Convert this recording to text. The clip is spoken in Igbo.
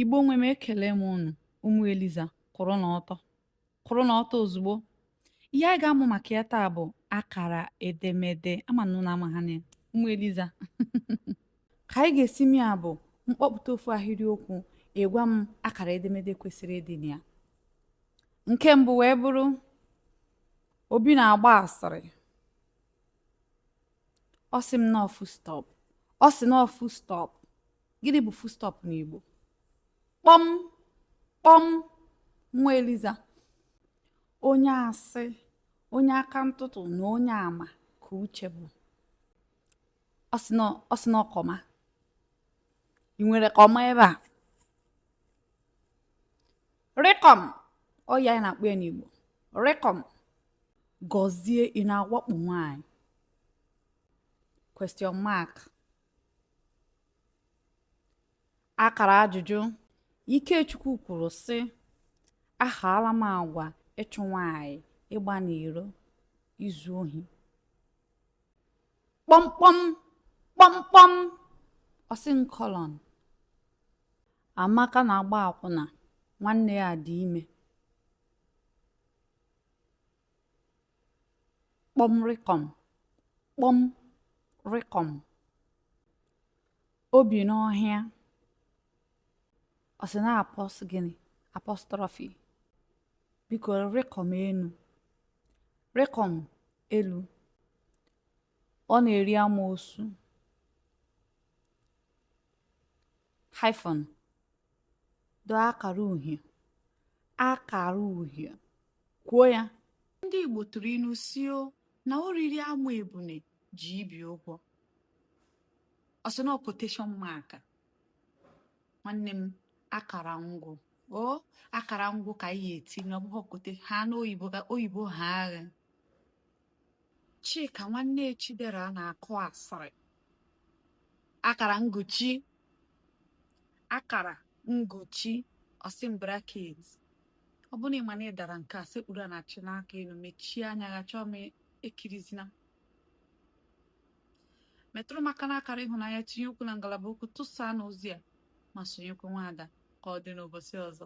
Igbo nwe m ekele m unu ụmụ Eliza kwụrụ na ọtọ kwụrụ na ọtọ ozugbo ihe anyị ga-amụ maka ya taa bụ akara edemede ama m na unu ama ha na ya ụmụ Eliza ka anyị ga-esi mee ya bụ m kpọpụta ofu ahịrịokwu ị gwa m akara edemede kwesịrị ịdị na ya nke mbụ wee bụrụ Obi na-agba asịrị ọ sị m na ọ full stop ọ sị na ọ full stop gịnị bụ full stop n'Igbo kpọm kpọm nwa Eliza onye asị onye aka ntụtụ na onye ama ka Uche bụ ọ sị na ọ comma ị nwere comma ebe a rịkọm ọ ya anyị na-akpọ ya n'Igbo rịkọm Gọzie ị na-awakpo nwanyị question mark Akara ajụjụ Ikechukwu kwuru sị ahaala m agwa ịchụ nwaanyị ịgba n'iro izu ohi kpọmkpọm kpọmkpọm ọ sị na colon Amaka na-agba akwụna nwanne ya dị ime kpọm rịkọm kpọm rịkọm o bi n'ọhịa ọ sị na apos gịnị apostrophe biko rịkọm enu rịkọm elu ọ na-eri amoosu hyphen doo akara uhie akara uhie kwuo ya ndị Igbo tụrụ ilu sị na o riri amụ ebune ji ibi ụgwọ ọ sị na quotation mark nwanne m akara ngwụ ọ akara ngwụ ka anyị etinye ọ bụghị ha n'oyibo ka oyibo ha agha Chika nwanne Chidera na-akụ asịrị akara nguchi akara nguchi ọ sị na bracket ọ bụrụ na ị ma na ị dara nke a sekpuru ana chịnie aka elu mechie anya gị Chiọma ekirizina metụrụ m aka n'akara ịhụnanya tinye okwu na ngalaba okwu tụsaa n'ozi a ma sonyekwa nwaada ka ọ dị n'ụbọsị ọzọ